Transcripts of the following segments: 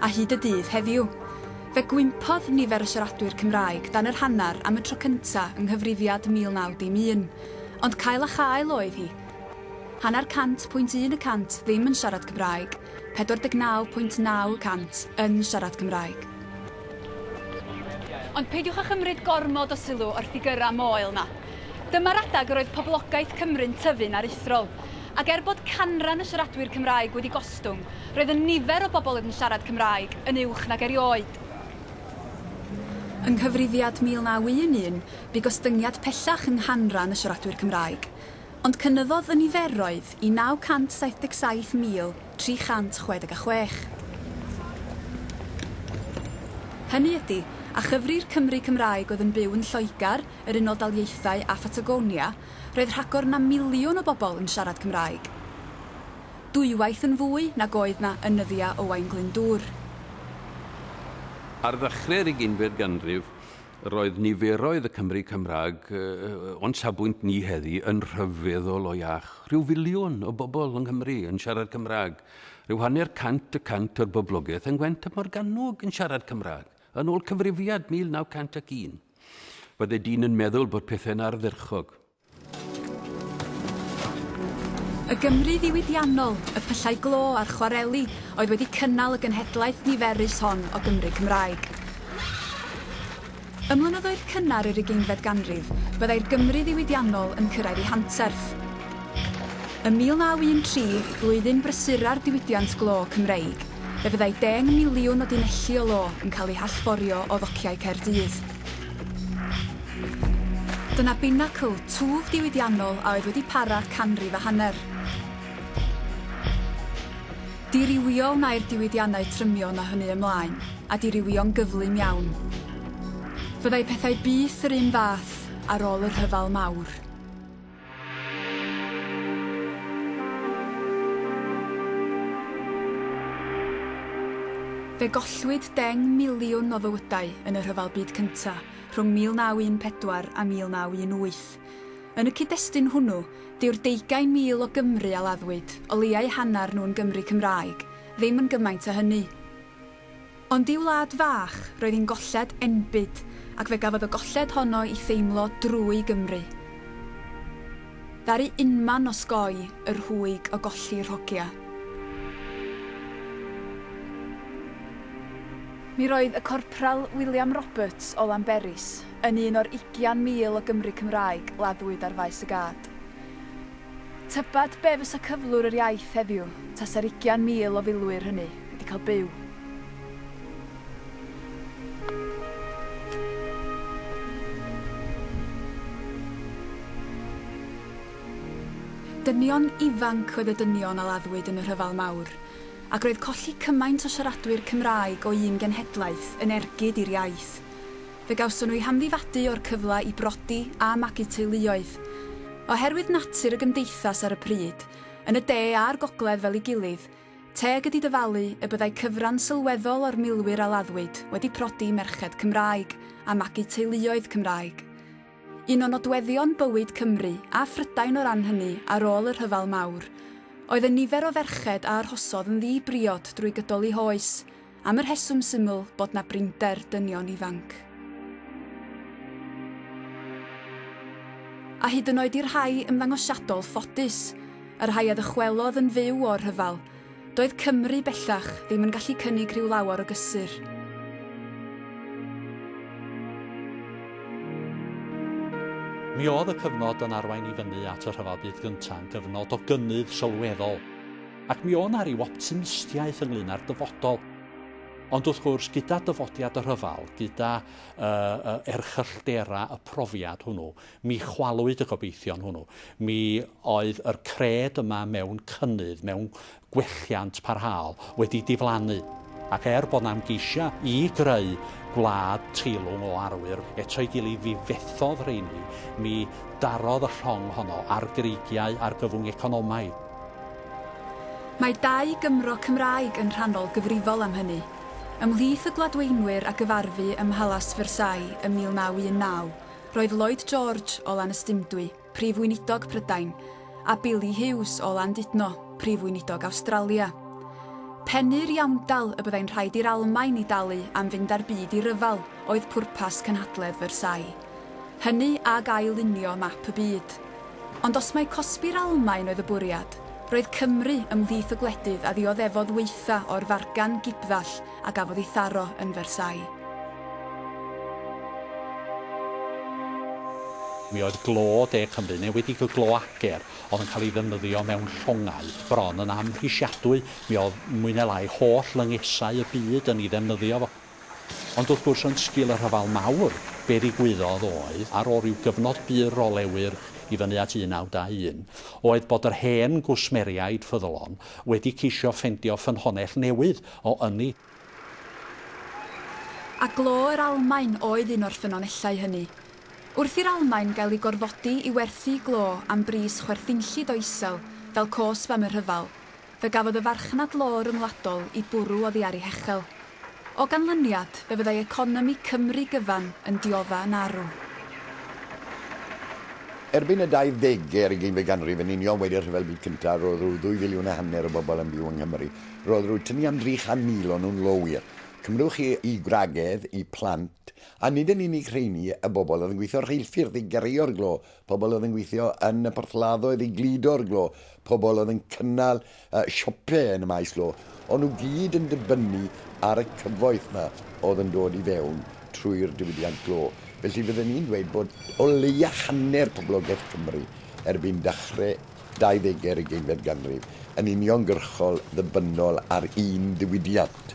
a hyd y dydd heddiw. Fe gwympodd nifer y siaradwyr Cymraeg dan yr hanner am y tro cynta' yng nghyfrifiad 1901, ond cael a chael oedd hi. Hanner cant pwynt un y cant ddim yn siarad Cymraeg, 49 pwynt naw y cant yn siarad Cymraeg. Ond peidiwch â chymryd gormod o sylw o'r ffigyrau moel 'na. Dyma'r adeg yr oedd poblogaeth Cymru'n tyfu'n aruthrol. Ac er bod canran y siaradwyr Cymraeg wedi gostwng, roedd y nifer o bobl oedd yn siarad Cymraeg yn uwch nag erioed. Yng Nghyfrifiad 1911, bu gostyngiad pellach yng nghanran y siaradwyr Cymraeg, ond cynyddodd y niferoedd i 977,366. Hynny ydi, a chyfri'r Cymry Cymraeg oedd yn byw yn Lloegr, yr Unol Daleithiau a Phatagonia, Roedd rhagor na miliwn o bobl yn siarad Cymraeg. Dwywaith yn fwy nag oedd 'na yn nyddia Owain Glyndŵr. Ar ddechrau'r ugeinfed ganrif, roedd niferoedd y Cymry Cymraeg, o'n safbwynt ni heddi, yn rhyfeddol o iach. Rhyw filiwn o bobl yng Nghymru yn siarad Cymraeg. Rhyw hanner cant y cant o'r boblogaeth yng Ngwent a Morgannwg yn siarad Cymraeg, yn ôl Cyfrifiad 1901. Bydde dyn yn meddwl bod pethau'n ardderchog. Y Gymru ddiwydiannol, y pyllau glo a'r chwareli oedd wedi cynnal y genhedlaeth niferus hon o Gymry Cymraeg. Ym mlynyddoedd cynnar yr ugeinfed ganrif, byddai'r Gymru ddiwydiannol yn cyrraedd ei hanterth. Ym 1913, flwyddyn brysura'r diwydiant glo Cymreig, Fe fyddai deng miliwn o dunelli o lo yn cael eu hallforio o ddociau Caerdydd. Dyna binacl, twf diwydiannol a oedd wedi para canrif a hanner. Dirywio wnai'r diwydiannau trymion o hynny ymlaen, a dirywio'n gyflym iawn. Fyddai pethau byth yr un fath ar ôl y rhyfel mawr. Fe gollwyd deng miliwn o fywydau yn y Rhyfel Byd Cyntaf rhwng 1914 a 1918. Yn y cyd-destun hwnnw, dyw'r deugain mil o Gymry a laddwyd, o leiau hanner nhw'n Gymry Cymraeg, ddim yn gymaint â hynny. Ond i'w wlad fach, roedd hi'n golled enbyd, ac fe gafodd y golled honno i theimlo drwy Gymru. Ddaru unman osgoi y rhwyg o golli rhogia. Mi roedd y Corpral William Roberts o Lanberis yn un o'r ugian mil o Gymry Cymraeg laddwyd ar Faes y Gad. Tybed be fysa cyflwr yr iaith heddiw tasa'r ugian mil o filwyr hynny wedi cael byw Dynion ifanc oedd y dynion a laddwyd yn y Rhyfel Mawr, ac roedd colli cymaint o siaradwyr Cymraeg o un genhedlaeth yn ergyd i'r iaith. Fe gawson nhw eu hamddifadu o'r cyfle i brodi a magu teuluoedd. Oherwydd natur y gymdeithas ar y pryd, yn y de a'r gogledd fel ei gilydd, teg ydi dyfalu y byddai cyfran sylweddol o'r milwyr a laddwyd wedi prodi merched Cymraeg a magu teuluoedd Cymraeg. Un o nodweddion bywyd Cymru a Phrydain o ran hynny ar ôl y Rhyfel Mawr oedd y nifer o ferched a arhosodd yn ddi-briod drwy gydol eu hoes, am y rheswm syml bod 'na brinder dynion ifanc. A hyd yn oed i'r rhai ymddangosiadol ffodus, y rhai a ddychwelodd yn fyw o'r rhyfel, doedd Cymru bellach ddim yn gallu cynnig rhyw lawer o gysur. Mi oedd y cyfnod yn arwain i fyny at y Rhyfel Byd Gynta'n gyfnod o gynnydd sylweddol. Ac mi o' 'na ryw optimistiaeth ynglyn â'r dyfodol. Ond wrth gwrs, gyda dyfodiad y rhyfel, gyda uh, uh, erchylltera y profiad hwnnw, mi chwalwyd y gobeithion hwnnw. Mi oedd yr cred yma mewn cynnydd, mewn gwelliant parhaol, wedi diflannu. Ac er bod 'na ymgeisiau i greu gwlad teilwng o arwyr eto'i gilydd fi fethodd rheini, mi darodd y llong honno ar greigiau argyfwng economaidd. Mae dau Gymro Cymraeg yn rhannol gyfrifol am hynny. Ymhlith y Gladweinwyr a gyfarfu ym Mhalas Versailles ym 1919 roedd Lloyd George o Lanystumdwy, Prif Weinidog Prydain, a Billy Hughes o Landudno, Prif Weinidog Awstralia. Pennu'r iawndal y byddai'n rhaid i'r Almaen i dalu am fynd â'r byd i ryfel oedd pwrpas cynhadledd Versailles. Hynny ag ail-lunio map y byd. Ond os mai cosbi'r Almaen oedd y bwriad, roedd Cymru ymhlith y gwledydd a ddioddefodd waetha o'r fargan gipddall a gafodd ei tharo yn Versailles. Mi oedd glo De Cymru, neu wedi glo ager, oedd yn cael ei ddefnyddio mewn llongau bron yn amhrisiadwy. Mi oedd mwy neu lai holl lyngesau y byd yn ei ddefnyddio fo. Ond wrth gwrs yn sgil y rhyfel mawr, be ddigwyddodd oedd, ar ôl rhyw gyfnod byr o le wyrch i fyny at 1921, oedd bod yr hen gwsmeriaid ffyddlon wedi ceisio ffendio ffynhonnell newydd o ynni. A glo yr Almaen oedd un o'r ffynonellau hynny. Wrth i'r Almaen gael ei gorfodi i werthu glo am bris chwerthinllyd o isel fel cosb am y rhyfel, Fe gafodd y farchnad law ryngwladol i bwrw oddi ar ei hechel. O ganlyniad, fe fyddai economi Cymru gyfan yn diodda' yn arw. Erbyn y dauddegau ar ugeinfed ganrif, yn union wedi y Rhyfel Byd Cyntaf, roedd rhyw ddwy filiwn a hanner o bobl yn byw yng Nghymru. Roedd rhyw tynnu am 300,000 o nhw'n lowyr. Cymrwch chi eu gwragedd, eu plant, a nid yn unig rheiny, y bobl oedd yn gweithio rheilffyrdd i gareo'r glo Pobl oedd yn gweithio yn y porthladdoedd i gludo'r glo, pobl oedd yn cynnal siopau yn y maes glo, o'n nhw gyd yn dibynnu ar y cyfoeth 'ma oedd yn dod i fewn trwy'r diwydiant glo. Felly fydden ni'n dweud bod o leia hanner poblogaeth Cymru erbyn dachre 20 ar ugeinfed ganrif yn uniongyrchol ddibynnol ar un diwydiant.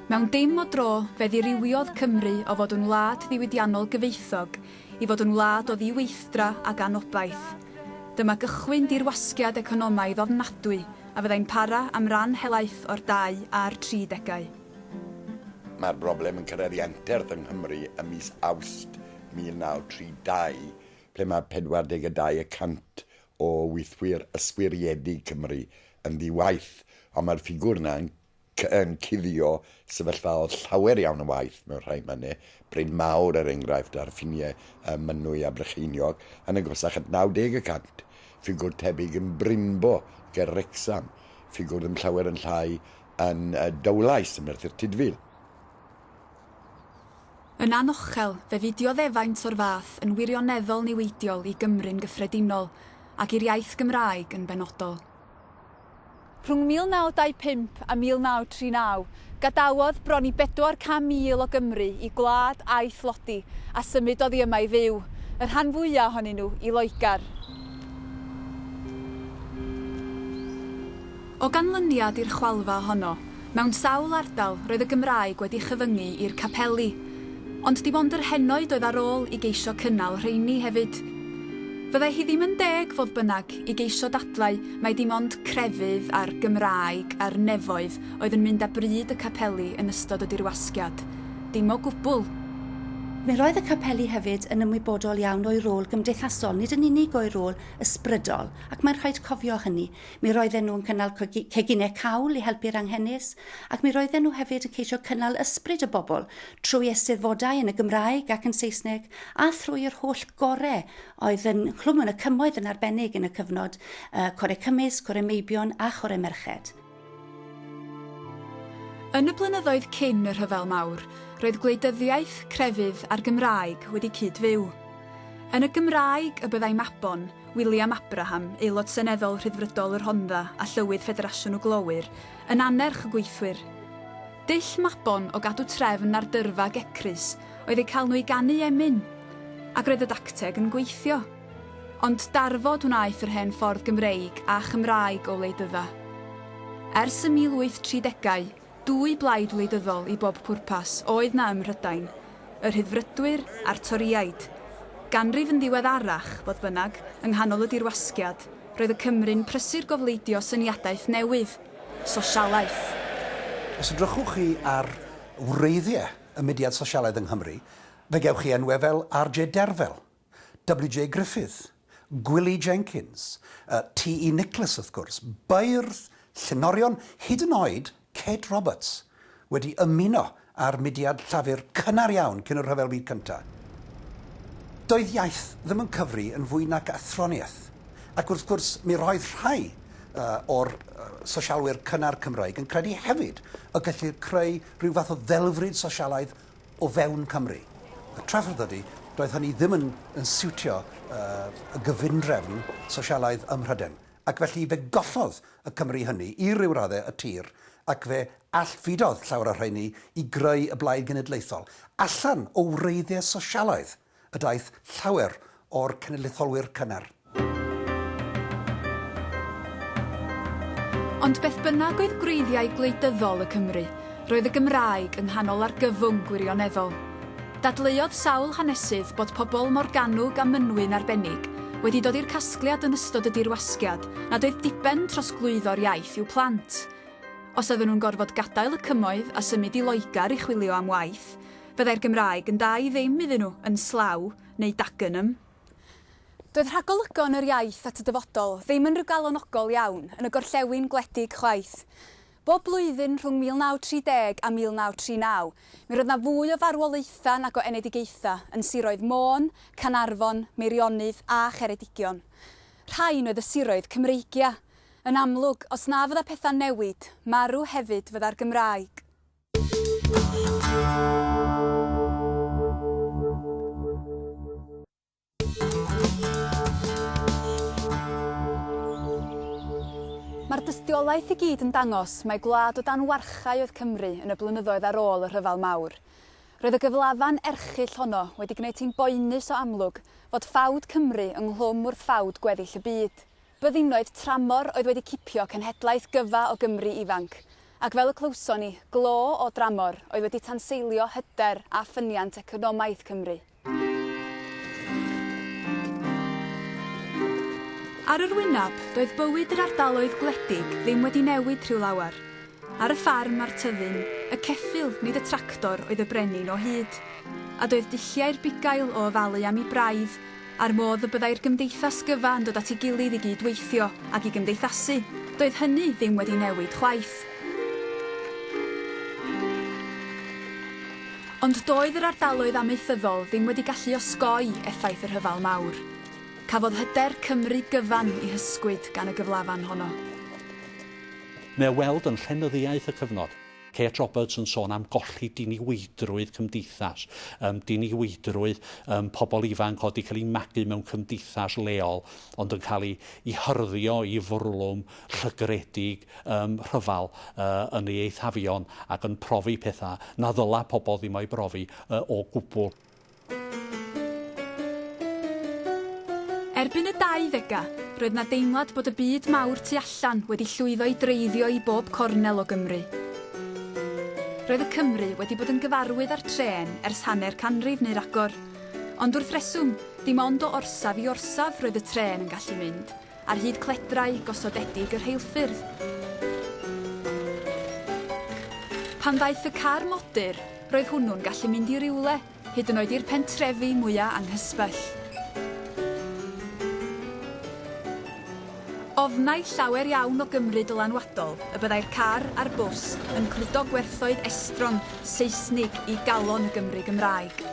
Mewn dim o dro, fe ddirywiod Cymru o fod yn wlad ddiwydiannol gyfoethog i fod yn wlad o ddiweithdra ac anobaith. Dyma gychwyn dirwasgiad economaidd ofnadwy a fyddai'n para am ran helaeth o'r 20 a'r 30. Mae'r broblem yn cyrraedd ei anterth yng Nghymru ym mis Awst 1932, ble mae 42 y cant o weithwyr yswiriedig Cymru yn ddi-waith, ond mae'r ffigwr yna yn yn cuddio sefyllfaodd llawer iawn o waith mewn rhai mannau, Bryn Mawr er enghraifft ar ffiniau ym Mynwy a Brycheiniog, yn agosach at 90 y cant, ffigwr tebyg yn Brynbo ger Wrecsam, ffigwr ddim llawer yn llai yn Dowlais ym Merthyr Tudful. Yn anochel, fe fu dioddefaint o'r fath yn wirioneddol niweidiol i Gymru'n gyffredinol, ac i'r iaith Gymraeg yn benodol. Rhwng 1925 a 1939, gadawodd bron i 400,000 o Gymry i gwlad a'i thlodi a symud oddi yma i fyw, y rhan fwya' ohonyn nhw i Loegr. O ganlyniad i'r chwalfa honno, Mewn sawl ardal, roedd y Gymraeg wedi chyfyngu i'r capeli. Ond dim ond yr henoed oedd ar ôl i geisio cynnal rheini hefyd. Fyddai hi ddim yn deg, fodd bynnag, i geisio dadlau mai dim ond crefydd a'r Gymraeg a'r nefoedd oedd yn mynd â bryd y capeli yn ystod y dirwasgiad. Dim o gwbl. Mi roedd y capeli hefyd yn ymwybodol iawn o'u rôl gymdeithasol, nid yn unig o'u rôl ysbrydol, ac mae'n rhaid cofio hynny. Mi roedden nhw yn cynnal ceginau cawl i helpu'r anghenus, ac mi roedden nhw hefyd yn ceisio cynnal ysbryd y bobl trwy Eisteddfodau yn y Gymraeg ac yn Saesneg a thrwy yr holl gorau oedd yn Nghlwm yn y Cymoedd yn arbennig yn y cyfnod, Corau Cymysg, Corau Meibion a Chorau Merched. Yn y blynyddoedd cyn y Rhyfel Mawr, roedd gwleidyddiaeth, crefydd a'r Gymraeg wedi cyd-fyw. Yn y Gymraeg y byddai Mabon, William Abraham, Aelod Seneddol Rhyddfrydol y Rhondda a Llywydd Ffederasiwn y Glowyr, yn annerch y gweithwyr. Dull Mabon o gadw trefn ar dyrfa Gecrys oedd eu cael nhw i ganu emyn. Ac roedd y dacteg yn gweithio. Ond darfod wnaeth yr hen ffordd Gymreig a Chymraeg o wleidydda. Ers y 1830au, Dwy blaid wleidyddol i bob pwrpas oedd 'na ym Mhrydain, y Rhyddfrydwyr a'r Torïaid. Ganrif yn ddiweddarach, fodd bynnag, yng nghanol y dirwasgiad, roedd y Cymry'n prysur gofleidio syniadaeth newydd, sosialaeth. Os edrychwch chi ar wreiddiau y mudiad sosialaidd yng Nghymru, fe gewch chi enwau fel RJ Derfel, WJ Griffith, Gwilly Jenkins, TE Nicholas wrth gwrs, beirdd, llenorion, hyd yn oed Kate Roberts, wedi ymuno â'r mudiad llafur cynnar iawn cyn y Rhyfel Byd Cyntaf. Doedd iaith ddim yn cyfri yn fwy nac athroniaeth, ac wrth gwrs mi roedd rhai o'r sosialwyr cynnar Cymraeg yn credu hefyd y gellir creu rhyw fath o ddelfryd sosialaidd o fewn Cymru. Y trafferth ydy, doedd hynny ddim yn, yn siwtio uh, y gyfundrefn sosialaidd ym Mhryden, ac felly fe gollodd y Cymry hynny i ryw raddau y tir, ac fe allfudodd llawer o rheini i greu y Blaid Genedlaethol allan o wreiddiau sosialaidd. y daeth llawer o'r cenedlaetholwyr cynnar. Ond beth bynnag oedd gwreiddiau gwleidyddol y Cymry, roedd y Gymraeg yng nghanol argyfwng gwirioneddol. Dadleuodd sawl hanesydd bod pobl Morgannwg a Mynwy'n arbennig wedi dod i'r casgliad yn ystod y Dirwasgiad nad oedd diben trosglwyddo'r iaith i'w plant. Os oedden nhw'n gorfod gadael y Cymoedd a symud i Loegr i chwilio am waith, Byddai'r Gymraeg yn dda i ddim iddyn nhw, yn slaw, neu Dagenham. Doedd rhagolygon yr iaith at y dyfodol ddim yn rhyw galonogol iawn yn y gorllewin gwledig chwaith. Bob blwyddyn rhwng 1930 a 1939, mi roedd 'na fwy o farwolaethau nag o enedigaethau yn siroedd Môn, Caernarfon, Meirionnydd a Cheredigion. Rhain oedd y siroedd Cymreigia. Yn amlwg, os na fydda pethau'n newid, marw hefyd fydda'r Gymraeg. Mae'r dystiolaeth i gyd yn dangos mai gwlad o dan warchae oedd Cymru yn y blynyddoedd ar ôl y Rhyfel Mawr. Roedd y gyflafan erchyll honno wedi gwneud hi'n boenus o amlwg fod ffawd Cymru ynghlwm wrth ffawd gweddill y byd. Byddinoedd tramor oedd wedi cipio cenhedlaeth gyfa o Gymry ifanc, ac fel y clywson ni, glo o dramor oedd wedi tanseilio hyder a ffyniant economaidd Cymru. Ar yr wyneb, doedd bywyd yr ardaloedd gwledig ddim wedi newid rhyw lawer. Ar y ffarm a'r tyddyn, y ceffyl, nid y tractor, oedd y brenin o hyd. A doedd dulliau'r bugail o ofalu am 'i braidd, a'r modd y byddai'r gymdeithas gyfa yn dod at ei gilydd i gyd-weithio ac i gymdeithasu, doedd hynny ddim wedi newid chwaith. Ond doedd yr ardaloedd amaethyddol ddim wedi gallu osgoi effaith y Rhyfel Mawr. Cafodd hyder Cymru gyfan ei hysgwyd gan y gyflafan honno. Mae ei weld yn llenyddiaeth y cyfnod. Kate Roberts yn sôn am golli diniweidrwydd cymdeithas, um, diniweidrwydd um, pobl ifanc oedd wedi cael ei magu mewn cymdeithas leol, ond yn cael ei, ei hyrddio i fwrlwm llygredig um, rhyfal uh, yn ei eithafion ac yn profi pethau na ddyla pobl ddim o'i brofi uh, o gwbl. Erbyn y 20au, roedd 'na deimlad bod y byd mawr tu allan wedi llwyddo i dreiddio i bob cornel o Gymru. Roedd y Cymry wedi bod yn gyfarwydd â'r trên ers hanner canrif neu ragor. Ond wrth reswm, dim ond o orsaf i orsaf roedd y trên yn gallu mynd. ar hyd cledrau gosodedig y rheilffyrdd. Pan ddaeth y car modur, roedd hwnnw'n gallu mynd i rywle, hyd yn oed i'r pentrefi mwya' anghysbell. Ofnai llawer iawn o Gymry dylanwadol y byddai'r car a'r bws yn cludo gwerthoedd estron Seisnig i galon y Gymry Gymraeg.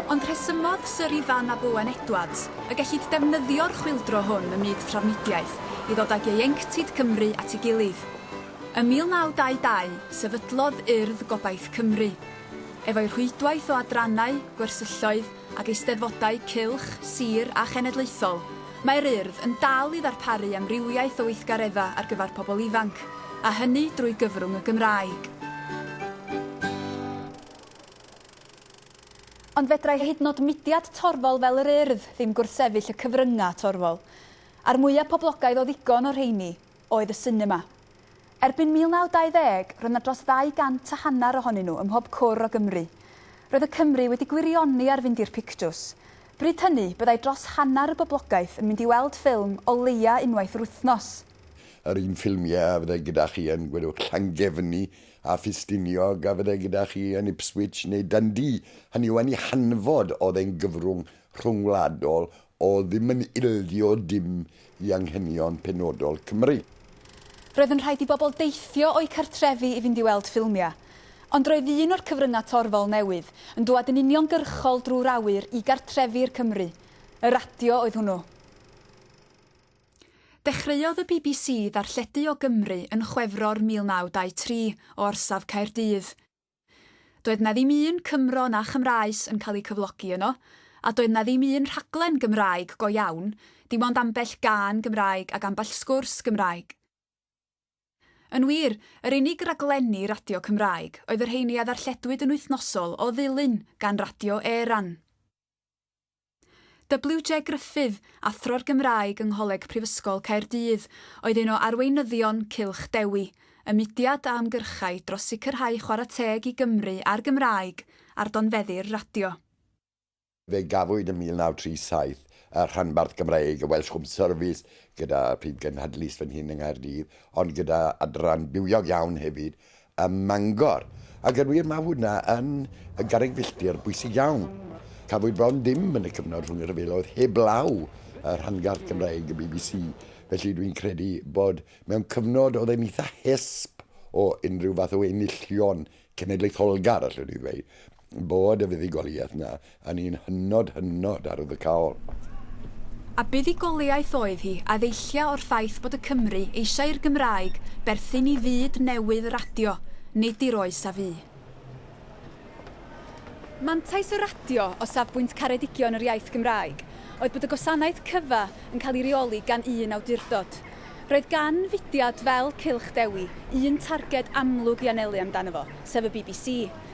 Ond rhesymodd Syr Ifan ab Owen Edwards y gellid defnyddio'r chwyldro hwn ym myd trafnidiaeth i ddod ag ieuenctid Cymru at ei gilydd. Ym 1922, sefydlodd Urdd Gobaith Cymru. Efo'i rhwydwaith o adrannau, gwersylloedd, Ag eisteddfodau cylch, sir a chenedlaethol, mae'r Urdd yn dal i ddarparu amrywiaeth o weithgareddau ar gyfer pobl ifanc, a hynny drwy gyfrwng y Gymraeg. Ond fedrai hyd yn oed mudiad torfol fel yr Urdd ddim gwrthsefyll y cyfryngau torfol. A'r mwyaf poblogaidd o ddigon o'r rheini, oedd y sinema. Erbyn 1920, roedd 'na dros ddau gant a hanner ohonyn nhw ym mhob cwr o Gymru. Roedd y Cymry wedi gwirioni ar fynd i'r pictws. Bryd hynny, byddai dros hanner y boblogaeth yn mynd i weld ffilm o leia' unwaith yr wythnos. Yr un ffilmiau a fyddai gyda chi yn Gweddwch Llangefni a Ffestiniog a fyddai gyda chi yn Ipswich neu Dundee, hynny yw yn ei hanfod oedd e'n gyfrwng rhyngwladol o ddim yn ildio dim i anghenion penodol Cymru. Roedd yn rhaid i bobl deithio o'u cartrefi i fynd i weld ffilmiau. Ond roedd un o'r cyfryngau torfol newydd yn dŵad yn uniongyrchol drwy'r awyr i gartrefi i'r Cymry. Y radio oedd hwnnw. Dechreuodd y bbc ddarlledu o Gymru yn Chwefror 1923, o orsaf Caerdydd. Doedd 'na ddim un Cymro na Chymraes yn cael eu cyflogi yno, a doedd 'na ddim un rhaglen Gymraeg go iawn, dim ond ambell gân Gymraeg ac ambell sgwrs Gymraeg. Yn wir, yr unig raglenni radio Cymraeg oedd y rheiny a ddarlledwyd yn wythnosol o ddilyn gan Radio Éireann. WJ Gruffydd, Athro'r Gymraeg yng Ngholeg Prifysgol Caerdydd, oedd un o arweinyddion Cylch Dewi, y mudiad a ymgyrchai dros sicrhau chwarae teg i Gymru a'r Gymraeg ar donfeddi'r radio. Fe gafwyd yn 1937 y rhanbarth Gymraeg, y Welsh Home Service, gyda phrif gynhadlys fan hyn yng Nghaerdydd, ond gyda adran bywiog iawn hefyd ym Mangor. Ac yn wir, mae hwnna yn garreg filltir bwysig iawn. Cafwyd bron dim yn y cyfnod rhwng y rhyfeloedd heblaw y rhanbarth Gymraeg y bbc, felly dwi'n credu bod mewn cyfnod oedd e'n eitha hesb o unrhyw fath o enillion cenedlaetholgar, allwn i ddweud. Bod y fuddugoliaeth 'na yn un hynod, hynod arwyddocaol. A buddugoliaeth oedd hi, a ddeillia o'r ffaith bod y Cymry eisiau i'r Gymraeg berthyn i fyd newydd radio, nid i'r oes a fu. Mantais y radio, o safbwynt caredigion yr iaith Gymraeg, oedd bod y gwasanaeth cyfa yn cael ei reoli gan un awdurdod. Roedd gan fudiad fel Cylch Dewi un targed amlwg i anelu amdano fo, sef y bbc.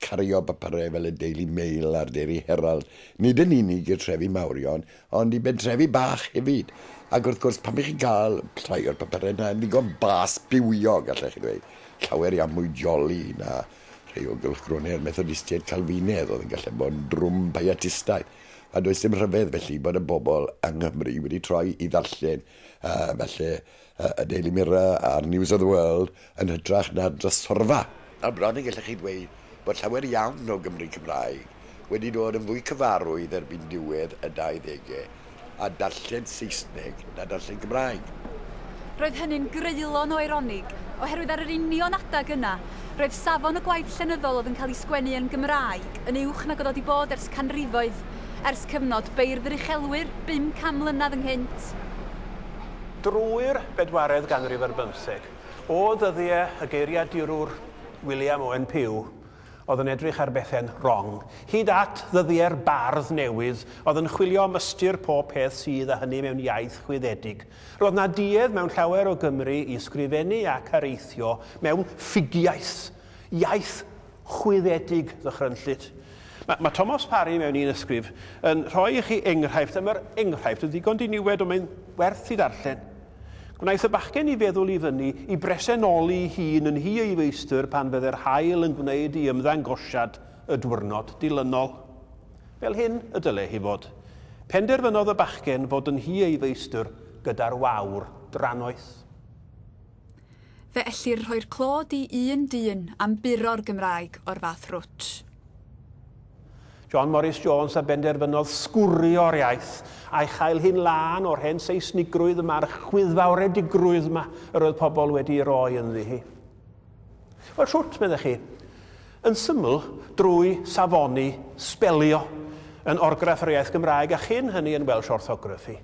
cario papurau fel y Daily Mail a'r Daily Herald, nid yn unig i'r trefi mawrion, ond i bentrefi bach hefyd. Ac wrth gwrs, pan bych chi'n cael rhai o'r papurau yna yn ddigon bas bywiog, allech chi ddweud, llawer iawn mwy joli na rhai o gylchgronau'r Methodistiaid Calfinedd oedd yn gallu bod yn drwm Pietistaidd. A does dim rhyfedd, felly, bod y bobl yng Nghymru wedi troi i ddarllen uh, felly y Daily Mirror a'r News of the World yn hytrach na'r drysorfa. Ar bron y gellech chi ddweud bod llawer iawn o Gymry Cymraeg wedi dod yn fwy cyfarwydd erbyn diwedd y 20au â darllen Saesneg na darllen Cymraeg. Roedd hynny'n greulon o eironig, oherwydd ar yr union adeg yna, roedd safon y gwaith llenyddol oedd yn cael ei sgwennu yn Gymraeg yn uwch nag oedd o 'di bod ers canrifoedd, ers cyfnod beirdd yr uchelwyr, 50 mlynedd ynghynt. Drwy'r bedwaredd ganrif ar bymtheg, o ddyddiau y geiriadurwr William Owen Pugh oedd yn edrych ar bethe'n rong, hyd at ddyddiau'r bardd newydd oedd yn chwilio am ystyr pob peth sydd a hynny mewn iaith chwyddedig, roedd 'na duedd mewn llawer o Gymry i ysgrifennu ac areithio mewn ffugiaeth, iaith chwyddedig ddychrynllyd. Mae, mae Thomas Parry mewn un ysgrif yn rhoi i chi enghraifft, a mae'r enghraifft yn ddigon diniwed ond mae'n werth i ddarllen. Gwnaeth y bachgen i feddwl i fyny i bresenoli hun yn hi ei feistr pan fydde'r haul yn gwneud i ymddangosiad y dwyrnod dilynol. Fel hyn y dyle hi fod. Penderfynodd y bachgen fod yn hi ei feistr gyda'r wawr drannoeth. Fe ellir rhoi'r clod i un dyn am buro'r Gymraeg o'r fath rwtsh. John Morris Jones a benderfynodd sgwrio'r iaith, a'i chael hi'n lân o'r hen Seisnigrwydd yma a'r chwyddfawredigrwydd yma yr oedd pobl wedi'i roi ynddi hi. Wel, shwt, meddech chi? Yn syml, drwy safoni sbelio yn orgraff yr iaith Gymraeg a chyn hynny yn Welsh Orthography.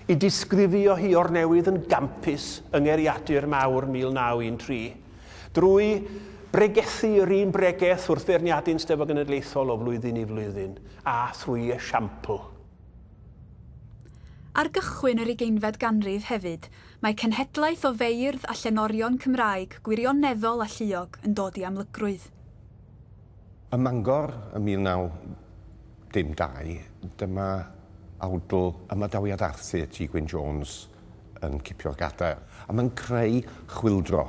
I disgrifio hi o'r newydd yn gampus yng Ngeriadur Mawr 1913. Drwy bregethu yr un bregeth wrth feirniadu'n Steddfod Genedlaethol o flwyddyn i flwyddyn, a thrwy esiampl. Ar gychwyn yr ugeinfed ganrif hefyd, mae cenhedlaeth o feirdd a llenorion Cymraeg gwirioneddol a lluog yn dod i amlygrwydd. Ym Mangor ym 19. Dim dau, dyma awdl ymadawiad Arthur T Gwyn Jones yn cipio'r gadair. A mae'n creu chwyldro.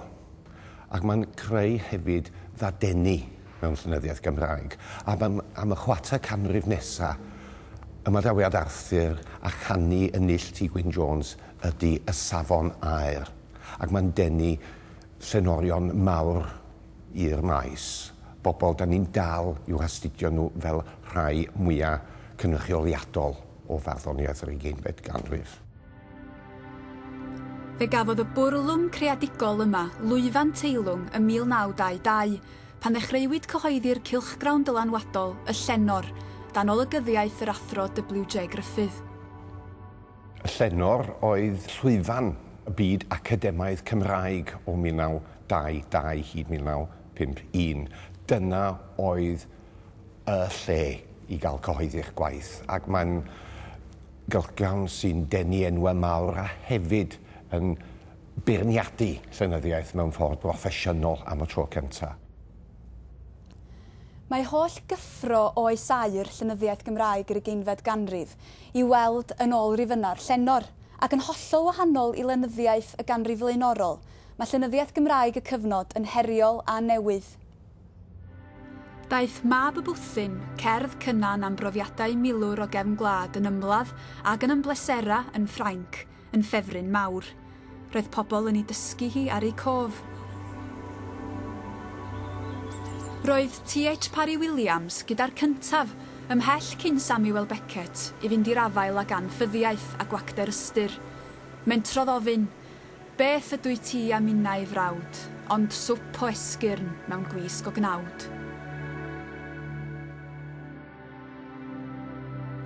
Ac mae'n creu hefyd ddadeni mewn llenyddiaeth Gymraeg. A am, am y chwarter canrif nesa, ymadawiad Arthur a chanu y Null T Gwyn Jones ydy Y Safon Aer. Ac mae'n denu llenorion mawr i'r maes, bobl 'dan ni'n dal i'w hastudio nhw fel rhai mwya' cynrychioliadol o farddoniaeth yr ugeinfed ganrif. Fe gafodd y bwrlwm creadigol yma lwyfan teilwng ym 1922, pan ddechreuwyd cyhoeddi'r cylchgrawn dylanwadol, Y Llenor, dan olygyddiaeth yr Athro WJ Gruffydd. Y llenor oedd llwyfan y byd academaidd Cymraeg o 1922 hyd 1951. Dyna oedd y lle i gael cyhoeddi'ch gwaith ac mae'n gylchgrawn sy'n denu enwau mawr a hefyd yn beirniadu llenyddiaeth mewn ffordd broffesiynol am y tro cyntaf. Mae holl gyffro oes aur llenyddiaeth Gymraeg yr ugeinfed ganrif i'w weld yn ôl Rifynnau'r Llenor, ac yn hollol wahanol i lenyddiaeth y ganrif flaenorol, mae llenyddiaeth Gymraeg y cyfnod yn heriol a newydd. Daeth Mab y Bwthyn, cerdd Cynan am brofiadau milwr o gefn gwlad yn ymladd ac yn ymbleserau yn Ffrainc, yn ffefryn mawr. Roedd pobl yn ei dysgu hi ar eu cof. Roedd TH Parry Williams gyda'r cyntaf, ymhell cyn Samuel Beckett, i fynd i'r afael ag anffyddiaeth a gwacter ystyr. Mentrodd ofyn, Beth ydw i ti a minnau ei frawd, ond swp o esgyrn mewn gwisg o gnawd?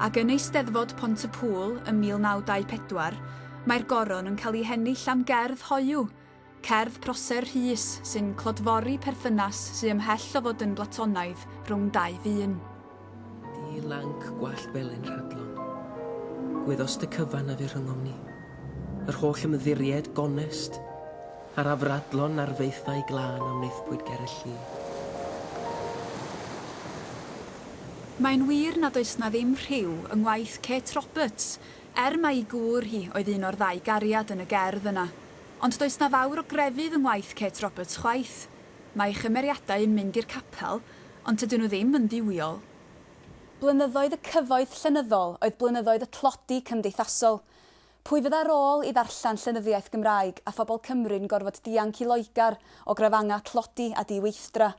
Ac yn Eisteddfod Pont-y-pŵl ym 1924, mae'r Goron yn cael ei hennill am gerdd hoyw, cerdd Prosser Rhys sy'n clodfori perthynas sy ymhell o fod yn Blatonaidd rhwng dau ddyn. Di lanc gwallt felyn rhadlon. Gwyddost y cyfan a fu rhyngom ni. Yr holl ymddiried gonest. Ar afradlon na'r faethau glân a wnaethpwyd ger y lli. Mae'n wir nad oes 'na ddim rhyw yng ngwaith Kate Roberts, er mai'i gŵr hi oedd un o'r ddau gariad yn y gerdd yna. Ond does 'na fawr o grefydd yng ngwaith Kate Roberts chwaith. Mae'i chymeriadau yn mynd i'r capel, ond tydyn nhw ddim yn dduwiol. Blynyddoedd y cyfoeth llenyddol oedd blynyddoedd y tlodi cymdeithasol. Pwy fydda rôl i ddarllen llenyddiaeth Gymraeg a phobl Cymru'n gorfod dianc i Loegr o grafangau tlodi a di-weithdra?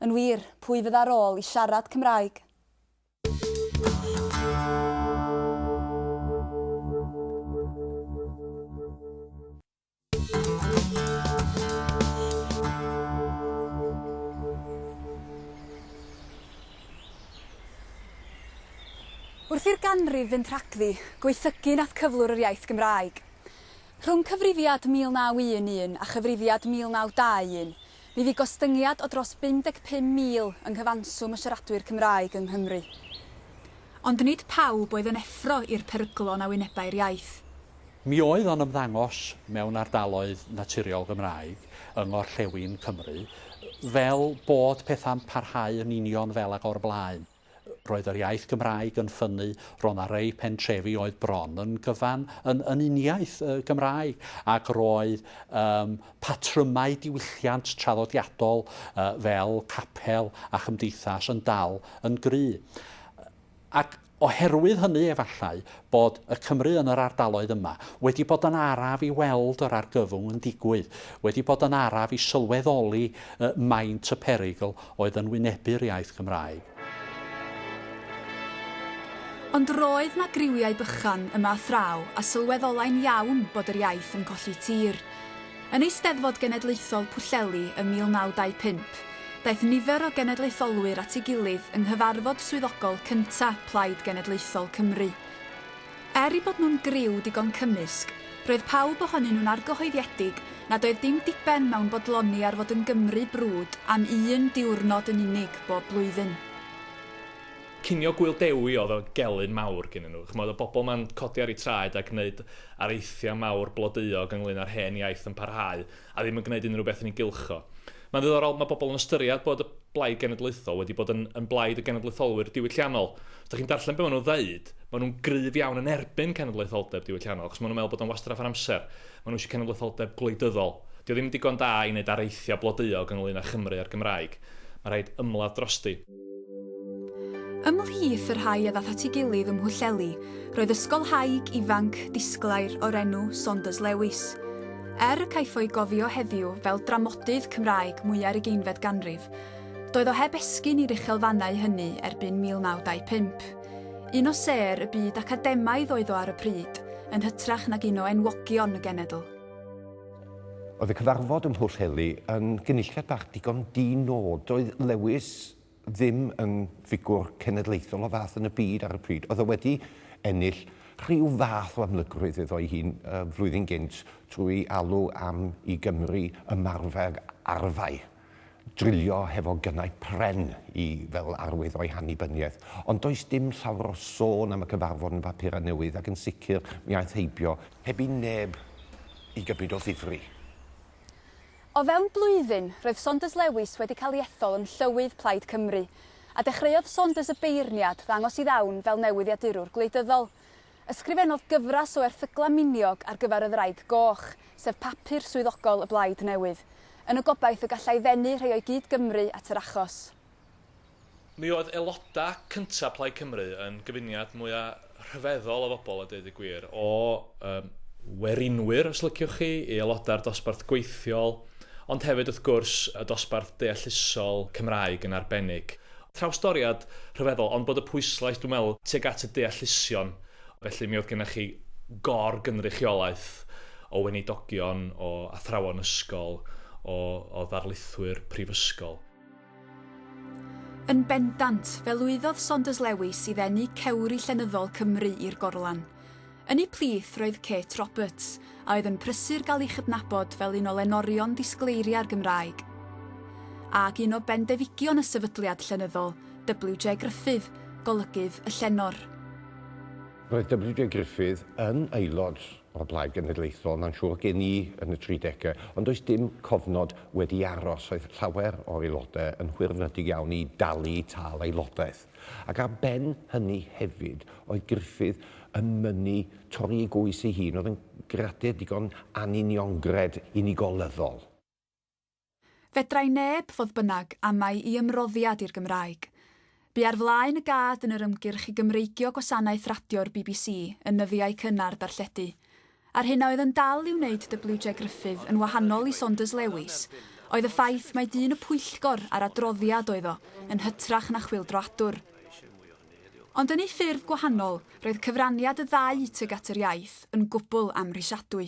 Yn wir, pwy fydda rôl i siarad Cymraeg? Wrth i'r ganrif fynd rhagddi, gwaethygu nath cyflwr yr iaith Gymraeg. Rhwng Cyfrifiad 1911 a Chyfrifiad 1921, mi fu gostyngiad o dros 55,000 yng nghyfanswm y siaradwyr Cymraeg yng Nghymru. Ond nid pawb oedd yn effro i'r peryglon a wynebai'r iaith. Mi oedd o'n ymddangos mewn ardaloedd naturiol Gymraeg yng ngorllewin Cymru fel bod pethau'n parhau yn union fel ag o'r blaen. Roedd yr iaith Gymraeg yn ffynnu, roedd 'na rei pentrefi oedd bron yn gyfan yn yn uniaith y Gymraeg, ac roedd yym patrymau diwylliant traddodiadol fel capel a chymdeithas yn dal yn gry. Ac oherwydd hynny efallai bod y Cymry yn yr ardaloedd yma wedi bod yn araf i weld yr argyfwng yn digwydd, wedi bod yn araf i sylweddoli maint y perygl oedd yn wynebu'r iaith Gymraeg. Ond roedd 'na griwiau bychan yma a thraw a sylweddolai'n iawn bod yr iaith yn colli tir. Yn Eisteddfod Genedlaethol Pwllheli ym 1925, daeth nifer o genedlaetholwyr at ei gilydd yng nghyfarfod swyddogol cynta' Plaid Genedlaethol Cymru. Er eu bod nhw'n griw digon cymysg, roedd pawb ohonyn nhw'n argyhoeddiedig nad oedd dim diben mewn bodloni ar fod yn Gymry brwd am un diwrnod yn unig bob blwyddyn. Cinio Gŵyl Dewi oedd o gelyn mawr gennyn nhw. Chimod, oedd bobl yma'n codi ar eu traed a gwneud areithiau mawr blodeuog ynglŷn â'r hen iaith yn parhau a ddim yn gwneud unrhyw beth yn ei gylch o. Mae'n ddiddorol, mae bobl yn ystyried bod y Blaid Genedlaethol wedi bod yn yn blaid y genedlaetholwyr diwylliannol. Os dych chi'n darllen be maen nhw'n ddeud, maen nhw'n gryf iawn yn erbyn cenedlaetholdeb diwylliannol, achos maen nhw'n meddwl bod o'n wastraff yr amser. Maen nhw eisiau cenedlaetholdeb gwleidyddol. Dydy o ddim yn digon da i wneud areithiau blodeuog ynglŷn â Chymru a'r Gymraeg. Mae rhaid ymladd drosti. Ymhlith y rhai a ddaeth at ei gilydd yng Nghwllheli, roedd ysgolhaig ifanc disglair o'r enw Saunders Lewis. Er y caiff o'i gofio heddiw fel dramodydd Cymraeg mwya'r ugeinfed ganrif, doedd o heb esgyn i'r uchelfannau hynny erbyn 1925. Un o sêr y byd academaidd oedd o ar y pryd, yn hytrach nag un o enwogion y genedl. Oedd y cyfarfod ym Mhwllheli yn gynulliad bach digon di-nod. Doedd Lewis ddim yn ffigwr cenedlaethol o fath yn y byd ar y pryd. Oedd o wedi ennill rhyw fath o amlygrwydd iddo'i hun y flwyddyn gynt trwy alw am i Gymru ymarfer arfau. drilio hefo gynnau pren i fel arwydd o'i hannibyniaeth, ond does dim llawer o sôn am y cyfarfod yn Papurau Newydd ac yn sicr mi aeth heibio heb i neb i gymryd o ddifri. O fewn blwyddyn, roedd Saunders Lewis wedi cael ei ethol yn Llywydd Plaid Cymru, a dechreuodd Saunders y beirniad ddangos i ddawn fel newyddiadurwr gwleidyddol. Ysgrifennodd gyfres o erthyglau miniog ar gyfer y Ddraig Goch, sef papur swyddogol y Blaid Newydd, yn y gobaith y gallai ddenu rhai o'i gyd-Gymry at yr achos. Mi oedd aelodau cyntaf Plaid Cymru yn gyfuniad mwya' rhyfeddol o fobl a deud y gwir, o yym werinwyr os liciwch chi, i aelodau'r dosbarth gweithiol, ond hefyd wrth gwrs y dosbarth deallusol, Cymraeg yn arbennig. Trawstoriad rhyfeddol, ond bod y pwyslais, dwi'n meddwl, tuag at y deallusion. Felly, mi oedd gennych chi gor-gynrychiolaeth o weinidogion, o athrawon ysgol, o o ddarlithwyr prifysgol. Yn bendant, fe lwyddodd Saunders Lewis i ddenu cewri llenyddol Cymru i'r gorlan. Yn eu plith roedd Kate Roberts, a oedd yn prysur gael ei chydnabod fel un o lenorion disgleiriau'r Gymraeg. Ac un o bendefigion y sefydliad llenyddol, WJ Gruffydd, golygydd y llenor. Roedd WJ Gruffydd yn aelod o'r Blaid Genedlaethol, mae'n siŵr, gen i yn y tridegau, ond does dim cofnod wedi aros. Oedd llawer o'r aelodau yn hwyrfrydig iawn i dalu tâl aelodaeth. Ac ar ben hynny hefyd, oedd Gruffydd yn mynnu torri ei goes ei hun, oedd yn gradur digon anuniongred unigolyddol. Fedrai neb, fodd bynnag, amau i ymroddiad i'r Gymraeg. Bu ar flaen y gad yn yr ymgyrch i Gymreigio gwasanaeth radio'r bbc yn nyddiau cynnar darlledu, A'r hyn a oedd yn dal i wneud WJ Gruffydd yn wahanol i Saunders Lewis oedd y ffaith mai dyn y pwyllgor a'r adroddiad oedd o, yn hytrach na chwyldroadwr. Ond yn ei ffurf gwahanol, roedd cyfraniad y ddau tuag at yr iaith yn gwbl amhrisiadwy.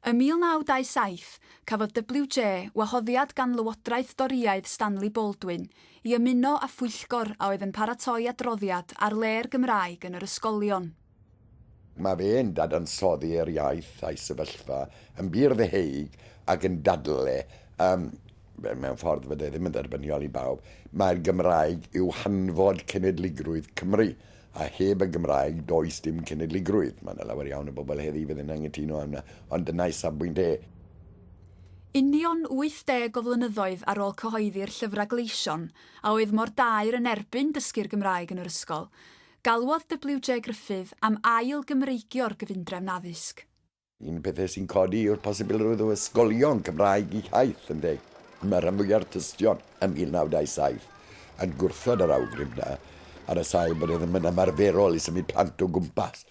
Ym 1927, cafodd WJ wahoddiad gan Lywodraeth Dorïaidd Stanley Baldwin i ymuno â phwyllgor a oedd yn paratoi adroddiad ar le'r Gymraeg yn yr ysgolion. Mae fe'n dadansoddi'r iaith a'i sefyllfa yn bur-ddeheuig ac yn dadl e, yym, mewn ffordd fydde ddim yn dderbyniol i bawb, mai'r Gymraeg yw hanfod cenedligrwydd Cymru, A heb y Gymraeg, does dim cenedligrwydd. Mae yna lawer iawn o bobl heddi fydd yn anghytuno â hwnna, ond dyna ei safbwynt e. Union 80 o flynyddoedd ar ôl cyhoeddi'r llyfrau gleision a oedd mor daer yn erbyn dysgu'r Gymraeg yn yr ysgol, galwodd WJ Gruffydd am ail-Gymreigio'r gyfundrefn addysg. Un o'r pethau sy'n codi yw'r posibilrwydd o ysgolion Cymraeg i Hythe yn deg. Mae rhan fwya'r tystion ym 1927 yn gwrthod yr awgrym yna, ar y sail bod e ddim yn ymarferol i symud plant o gwmpas,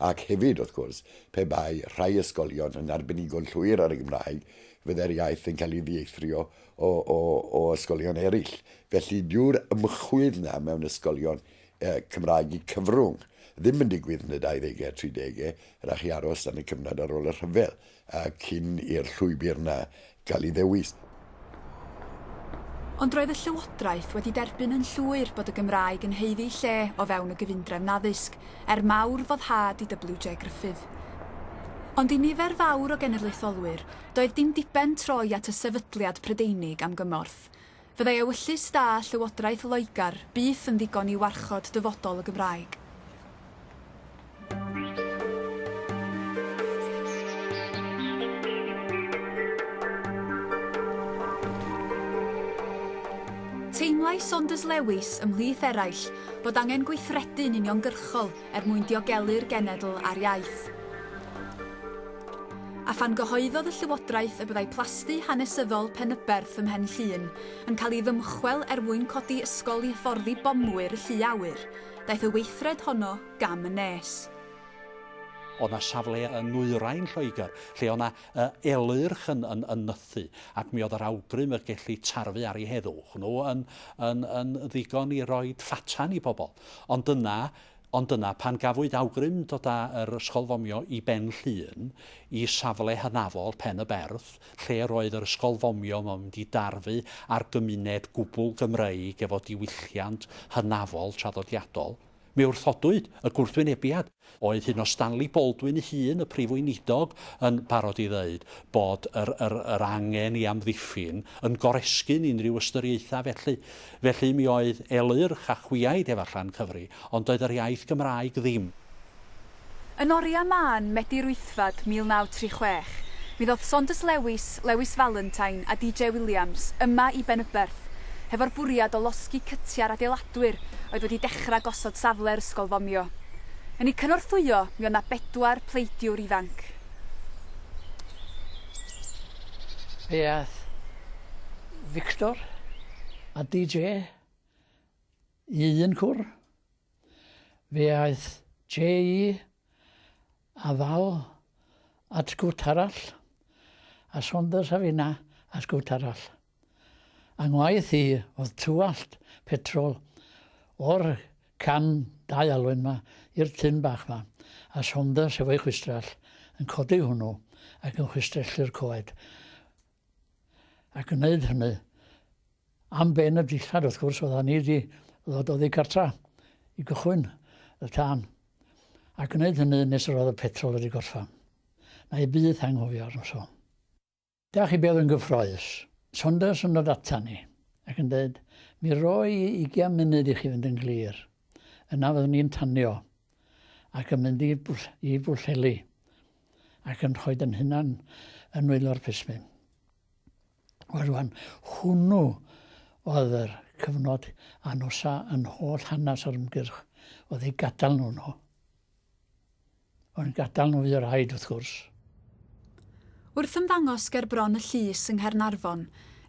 ac hefyd, wrth gwrs, pe bai rhai ysgolion yn arbenigo'n llwyr ar y Gymraeg, fyddai'r iaith yn cael ei ddieithrio o, o, o ysgolion eraill. Felly, dyw'r ymchwydd yna mewn ysgolion Cymraeg y cyfrwng ddim yn digwydd yn y dauddegau, tridegau, rhaid chi aros dan y cyfnod ar ôl y rhyfel cyn i'r llwybr 'na gael ei ddewis. Ond roedd y Llywodraeth wedi derbyn yn llwyr bod y Gymraeg yn haeddu lle o fewn y gyfundrefn addysg, er mawr foddhad i WJ Gruffydd. Ond i nifer fawr o genedlaetholwyr, doedd dim diben troi at y sefydliad Prydeinig am gymorth. Fyddai ewyllys da Llywodraeth Loegr byth yn ddigon i warchod dyfodol y Gymraeg. Teimlai Saunders Lewis, ymhlith eraill, bod angen gweithredu'n uniongyrchol er mwyn diogelu'r genedl a'r iaith. A phan gyhoeddodd y Llywodraeth y byddai plasty hanesyddol Penyberth ym Mhen Llŷn yn cael ei ddymchwel er mwyn codi ysgol i hyfforddi bomwyr y llu awyr, daeth y weithred honno gam yn nes. Oedd 'na safle yn nwyrain Lloegr lle oedd 'na elyrch yn yn yn nythu, ac mi oedd yr awgrym y gelli tarfu ar 'u heddwch nhw yn yn yn ddigon i roid ffatan i bobl. Ond dyna, ond dyna pan gafwyd awgrym dod â yr ysgol fomio i Ben Llŷn, i safle hynafol Pen y Berth, lle yr oedd yr ysgol fomio yma'n mynd i darfu ar gymuned gwbl Gymreig efo diwylliant hynafol traddodiadol, mi wrthodwyd y gwrthwynebiad. Oedd hyn o Stanley Baldwin ei hun, y Prif Weinidog, yn barod i ddweud bod yr yr yr angen i amddiffyn yn goresgyn unrhyw ystyriaethau felly. Felly mi oedd Elyrch a Chwiaid efallai yn cyfri, ond doedd yr iaith Gymraeg ddim. Yn oriau mân Medi Rwyddfad 1936, mi ddoth Saunders Lewis, Lewis Valentine a DJ Williams yma i Benyberth hefo'r bwriad o losgi cytiau'r adeiladwyr oedd wedi dechrau gosod safle yr ysgol fomio. Yn eu cynorthwyo mi oedd 'na bedwar pleidiwr ifanc. Fe ath Victor a DJ i un cwr. Fe aeth JE a Val at gwt arall, a Saunders a finna at gwt arall. Yng ngwaith hi oedd twallt petrol o'r can dau alwyn 'ma i'r tun bach 'ma, a Saunders efo'i chwistrell yn codi hwnnw ac yn chwistrellu'r coed, ac yn neud hynny am ben y dillad wrth gwrs, oeddan ni 'di ddod oddi cartra i gychwyn y tân, ac yn neud hynny nes yr oedd y petrol wedi gorffan. 'Na i byth anghofio'r noson. Da chi byth yn gyffroes. Saunders yn dod atan ni ac yn dweud, Mi roi i ugian munud i chi fynd yn glir. Yna fyddwn ni'n tanio ac yn mynd i i Bwllheli ac yn rhoi yn hunan yn nwylo'r plismyn. Wel rwan, hwnnw oedd yr cyfnod anosa yn holl hanes yr ymgyrch, oedd ei gadael nhw nhw. Ond gadael nhw fydd rhaid, wrth gwrs. Wrth ymddangos ger Bron y Llys yng Nghaernarfon,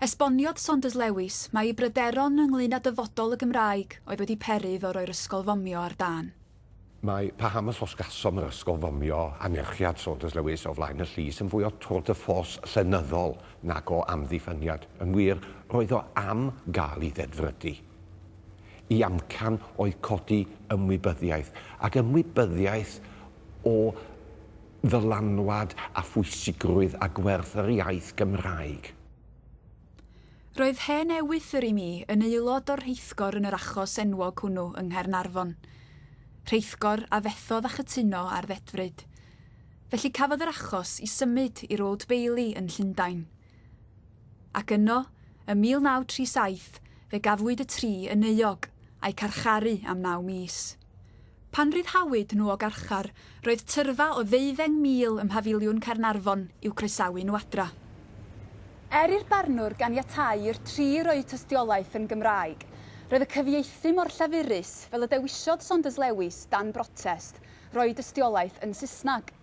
esboniodd Saunders Lewis mai ei bryderon ynglŷn â dyfodol y Gymraeg oedd wedi peri iddo roi'r ysgol fomio ar dân. Mae paham y llosgcasom yr ysgol fomio anerchiad Saunders Lewis o flaen y llys yn fwy o tour de force llenyddol nag o amddiffyniad. Yn wir, roedd o am gael ei ddedfrydu. Y amcan oedd codi ymwybyddiaeth, ac ymwybyddiaeth o ddylanwad a phwysigrwydd a gwerth yr iaith Gymraeg. Roedd hen ewythr i mi yn aelod o'r rheithgor yn yr achos enwog hwnnw yng Nghaernarfon. Rheithgor a fethodd â chytuno ar ddedfryd. Felly cafodd yr achos i symud i'r Old Bailey yn Llundain. Ac yno, ym 1937, fe gafwyd y tri yn euog, a'u carcharu am naw mis. Pan ryddhawyd nhw o garchar, roedd tyrfa o ddeuddeng mil ym Mhafiliwn Caernarfon i'w croesawu nhw adra. Er i'r barnwr ganiatáu i'r tri roi tystiolaeth yn Gymraeg, roedd y cyfieithu mor llafurus, fel y dewisiodd Saunders Lewis, dan brotest, roi dystiolaeth yn Saesneg.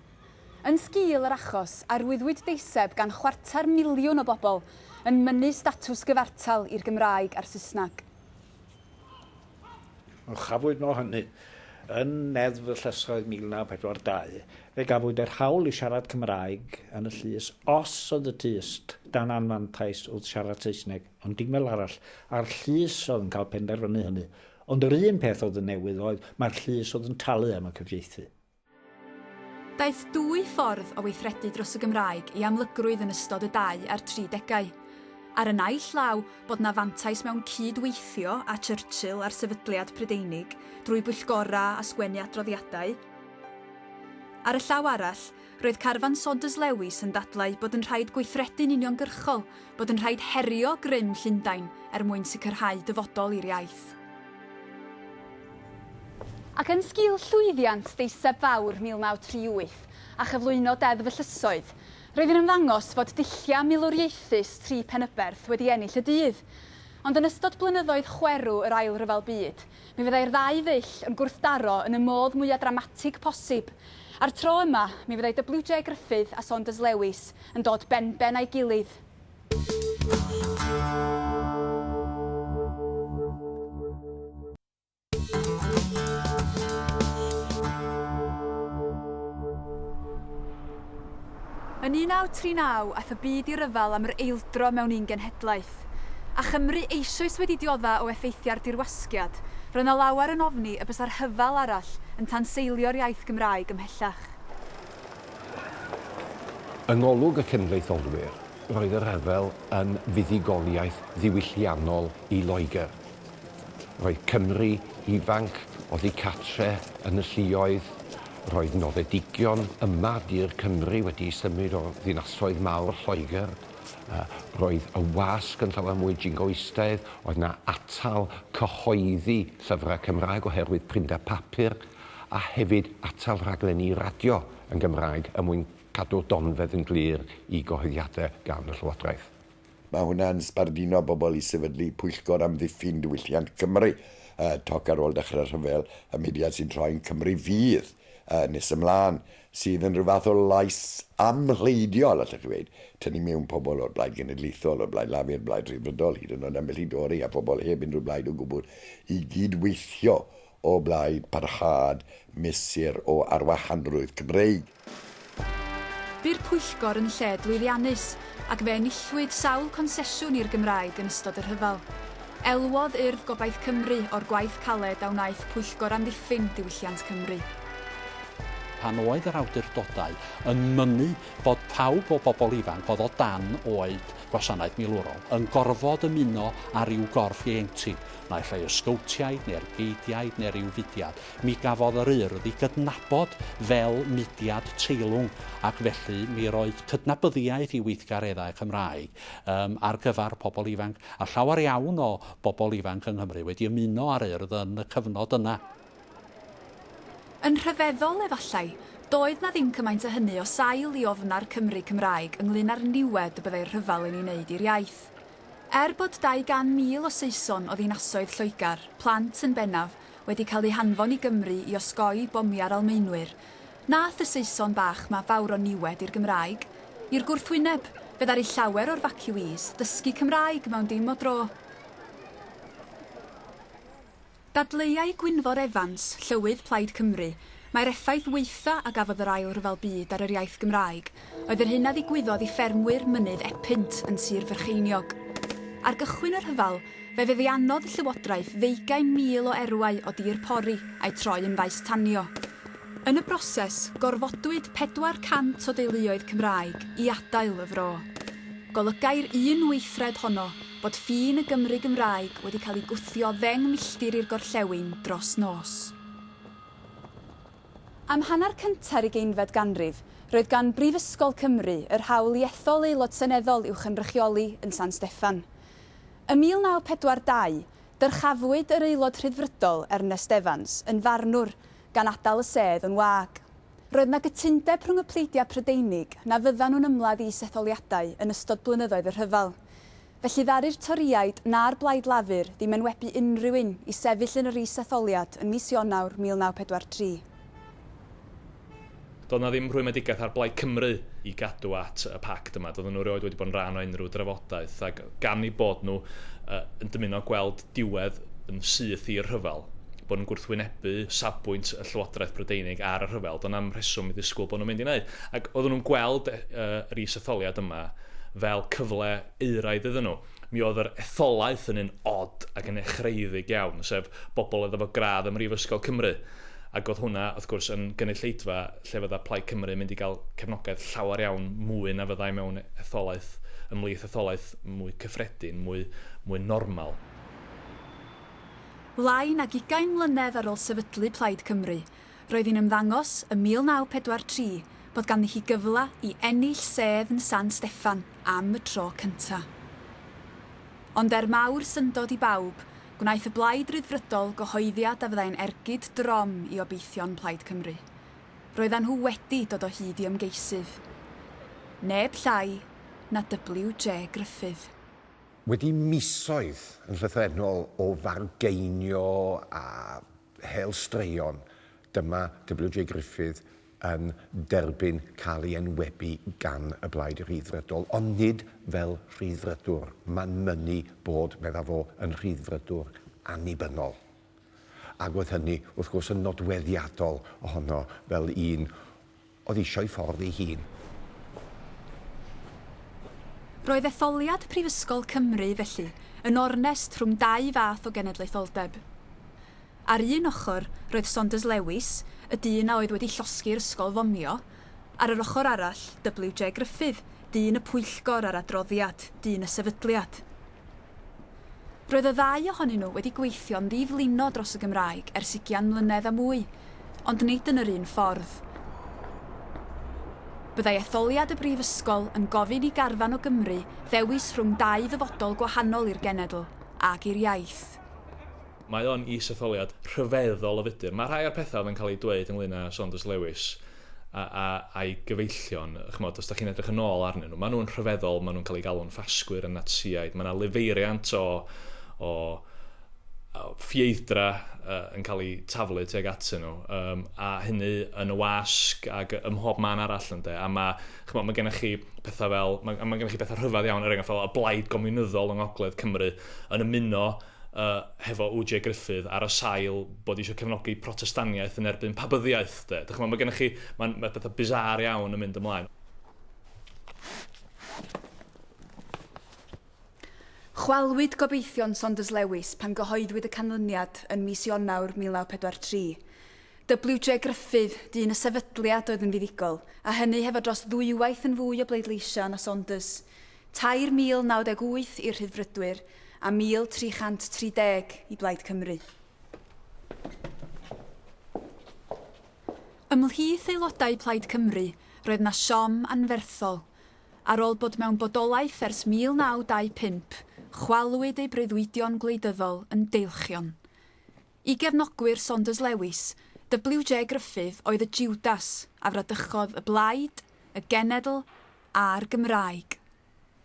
Yn sgil yr achos, arwyddwyd deiseb gan chwarter miliwn o bobl yn mynnu statws gyfartal i'r Gymraeg a'r Saesneg. Yn chyflwyno hynny yn Neddf y Llysoedd 1942, fe gafwyd yr hawl i siarad Cymraeg yn y llys os oedd y tyst dan anfantais wrth siarad Saesneg, ond dim fel arall, a'r llys oedd yn cael penderfynu hynny. Ond yr un peth oedd yn newydd oedd mai'r llys oedd yn talu am y cyfieithu. Daeth dwy ffordd o weithredu dros y Gymraeg i amlygrwydd yn ystod y 23 degau. Ar y naill law, bod 'na fantais mewn cyd-weithio â Churchill a'r sefydliad Prydeinig drwy bwyllgorau a sgwennu adroddiadau. Ar y llaw arall, roedd carfan Saunders Lewis yn dadlau bod yn rhaid gweithredu'n uniongyrchol, bod yn rhaid herio grym Llundain er mwyn sicrhau dyfodol i'r iaith. Ac yn sgil llwyddiant deiseb fawr 1938 a chyflwyno Deddf y Llysoedd, roedd yn ymddangos fod dulliau milwriaethus Tri Penyberth wedi ennill y dydd. Ond yn ystod blynyddoedd chwerw yr Ail Ryfel Byd, mi fyddai'r ddau ddull yn gwrthdaro yn y modd mwya' dramatig posib. A'r tro yma, mi fyddai WJ Gruffydd a Saunders Lewis yn dod benben a'i gilydd. Yn 1939 aeth y byd i ryfel am yr eildro mewn un genhedlaeth. A Chymru eisoes wedi diodda' o effeithiau'r dirwasgiad, roedd 'na lawer yn ofni y bysa rhyfel arall yn tanseilio'r iaith Gymraeg ymhellach. Yng ngolwg y cenedlaetholwyr, roedd y rhyfel yn fuddugoliaeth ddiwylliannol i Loegr. Roedd Cymry ifanc oddi cartre yn y lluoedd, roedd noddedigion yma dur Cymry wedi symud o'r ddinasoedd mawr Lloegr, roedd y wasg yn llawer mwy jingoistaidd, oedd 'na atal cyhoeddi llyfrau Cymraeg oherwydd prinder papur. a hefyd atal rhaglenni radio yn Gymraeg er mwyn cadw'r donfedd yn glir i gyhoeddiadau gan y Llywodraeth. Mae hwnna'n sbarduno bobl i sefydlu Pwyllgor Amddiffyn Diwylliant Cymru, toc ar ôl dechrau rhyfel y mudiad sy'n troi'n Cymru Fydd, nes ymlaen, sydd yn rhyw fath o lais amhleidiol, allech chi ddweud, tynnu mewn pobl o'r Blaid Genedlaethol, o'r Blaid Lafur, Blaid Rhyddfrydol, hyd yn oed ambell i Dori a phobl heb unrhyw blaid o gwbl i gyd-weithio o blaid parhad mesur o arwahanrwydd Cymreig. Bu'r pwyllgor yn lled lwyddiannus ac fe enillwyd sawl consesiwn i'r Gymraeg yn ystod y rhyfel. Elwodd Urdd Gobaith Cymru o'r gwaith caled a wnaeth Pwyllgor Amddiffyn Diwylliant Cymru. Pan oedd yr awdurdodau yn mynnu bod pawb o bobl ifanc oedd o dan oed gwasanaeth milwrol yn gorfod ymuno â rhyw gorff ieuenctid, naill ai y Sgowtiaid neu'r Geidiaid neu ryw fudiad, mi gafodd yr Urdd ei gydnabod fel mudiad teilwng ac felly mi roedd cydnabyddiaeth i weithgareddau Cymraeg yym ar gyfer pobl ifanc, a llawer iawn o bobl ifanc yng Nghymru wedi ymuno â'r Urdd yn y cyfnod yna. Yn rhyfeddol, efallai, doedd 'na ddim cymaint â hynny o sail i ofn a'r Cymry Cymraeg ynglŷn â'r niwed y byddai'r rhyfel yn ei wneud i'r iaith. Er bod 200,000 o Saeson o ddinasoedd Lloegr, plant yn bennaf, wedi cael eu hanfon i Gymru i osgoi bomiau'r Almaenwyr, nath y Saeson bach 'ma fawr o niwed i'r Gymraeg. I'r gwrthwyneb, fe ddaru llawer o'r vacuees ddysgu Cymraeg mewn dim o dro. Dadleuai Gwynfor Evans, Llywydd Plaid Cymru, mai'r effaith waetha a gafodd yr Ail Ryfel Byd ar yr iaith Gymraeg oedd yr hyn a ddigwyddodd i ffermwyr Mynydd Epynt yn Sir Frycheiniog. Ar gychwyn y rhyfel, fe feddiannodd y llywodraeth ddeugain mil o erwau o dir pori a'u troi yn faes tanio. Yn y broses, gorfodwyd 400 o deuluoedd Cymraeg i adael y fro. Golygai'r un weithred honno bod ffin y Gymry Gymraeg wedi cael ei gwthio ddeng milltir i'r gorllewin dros nos. Am hanner cynta'r ugeinfed ganrif, roedd gan Brifysgol Cymru yr hawl i ethol aelod seneddol i'w chynrychioli yn San Steffan. Ym 1942, dyrchafwyd yr Aelod Rhyddfrydol Ernest Evans yn farnwr, gan adael y sedd yn wag. Roedd 'na gytundeb rhwng y pleidiau Prydeinig na fyddan nhw'n ymladd i is-etholiadau yn ystod blynyddoedd y rhyfel. Felly ddaru'r Torïaid na'r Blaid Lafur ddim enwebu unrhyw un i sefyll yn yr is-etholiad yn mis Ionawr 1943. Doedd 'na ddim rhwymedigaeth ar Blaid Cymru i gadw at y pact yma. Doedden nhw erioed wedi bod yn rhan o unrhyw drafodaeth ac gan eu bod nhw yn dymuno gweld diwedd yn syth i'r rhyfel, bod yn gwrthwynebu safbwynt y Llywodraeth Brydeinig ar y rhyfel, doedd 'na'm rheswm i ddisgwyl bod nhw'n mynd i wneud. Ac oedden nhw'n gweld yr is-etholiad yma, fel cyfle euraidd iddyn nhw. Mi oedd yr etholaeth yn un od ac yn echreuedig iawn, sef bobl oedd efo gradd ym Mhrifysgol Cymru, ac oedd hwnna, wrth gwrs, yn gynulleidfa lle fydda Plaid Cymru yn mynd i gael cefnogaeth llawer iawn mwy na fyddai mewn etholaeth, ymhlith etholaeth mwy cyffredin, mwy, mwy normal. Lai nag ugain mlynedd ar ôl sefydlu Plaid Cymru, Roedd hi'n ymddangos ym 1943 bod ganddi hi gyfle i ennill sedd yn San Steffan am y tro cynta'. Ond er mawr syndod i bawb, gwnaeth y Blaid Ryddfrydol gyhoeddiad a fyddai'n ergyd drom i obeithion Plaid Cymru. Roeddan nhw wedi dod o hyd i ymgeisydd. Neb llai na WJ Gruffydd. Wedi misoedd yn llythrennol o fargeinio a Hel Straeon, dyma WJ Griffith yn derbyn cael ei enwebu gan y Blaid Rhyddfrydol, ond nid fel rhyddfrydwr, mae'n mynnu bod, medda fo, yn rhyddfrydwr annibynnol. Ac oedd hynny, wrth gwrs, yn nodweddiadol ohono fel un oedd eisio'i ffordd ei hun. Roedd etholiad Prifysgol Cymru, felly, yn ornest rhwng dau fath o genedlaetholdeb. Ar un ochr, roedd Saunders Lewis, y dyn a oedd wedi llosgi'r ysgol fomio, ar yr ochr arall, WJ Gruffydd, dyn y pwyllgor a'r adroddiad, dyn y sefydliad. Roedd y ddau ohonyn nhw wedi gweithio'n ddi-flinod dros y Gymraeg ers ugian mlynedd a mwy, ond nid yn yr un ffordd. Byddai etholiad y Brifysgol yn gofyn i garfan o Gymry ddewis rhwng dau ddyfodol gwahanol i'r genedl ac i'r iaith. Mae o'n is-etholiad rhyfeddol o fudr. Mae rhai o'r pethau oedd yn cael eu dweud ynglŷn â Saunders Lewis a, a, a'i gyfeillion, chymod, os da chi'n edrych yn ôl arnyn nhw, maen nhw'n rhyfeddol, maen nhw'n cael eu galw'n ffasgwyr a natsiaid, mae yna lifeiriant o, o, o ffieithdra uh, yn cael eu taflu tuag atyn nhw, um, a hynny yn y wasg ac ym mhob man arall ynde, a mae, chymod, mae gennych chi pethau fel, mae, mae gennych chi pethau rhyfedd iawn, er enghraifft fel y blaid gomiwnyddol yng Ngogledd Cymru yn ymuno y hefo OJ Gruffydd ar y sail bod isio cefnogi protestaniaeth yn erbyn pabyddiaeth de. Dych chi'n mae gennych chi, mae'n mae pethau bizarre iawn yn mynd ymlaen. Chwalwyd gobeithion Saunders Lewis pan gyhoeddwyd y canlyniad yn mis Ionawr 1943. WJ Gruffydd, dyn y sefydliad oedd yn fuddugol, a hynny hefo dros ddwywaith yn fwy o bleidleisio na Saunders, Tair mil naw deg wyth i'r Rhyddfrydwyr a 1,330 i Blaid Cymru. Ymhlith aelodau Plaid Cymru roedd 'na siom anferthol. Ar ôl bod mewn bodolaeth ers 1925, chwalwyd ei breuddwydion gwleidyddol yn deilchion. I gefnogwyr Saunders Lewis, WJ Gruffydd oedd y Jiwdas a fradychodd y blaid, y genedl a'r Gymraeg.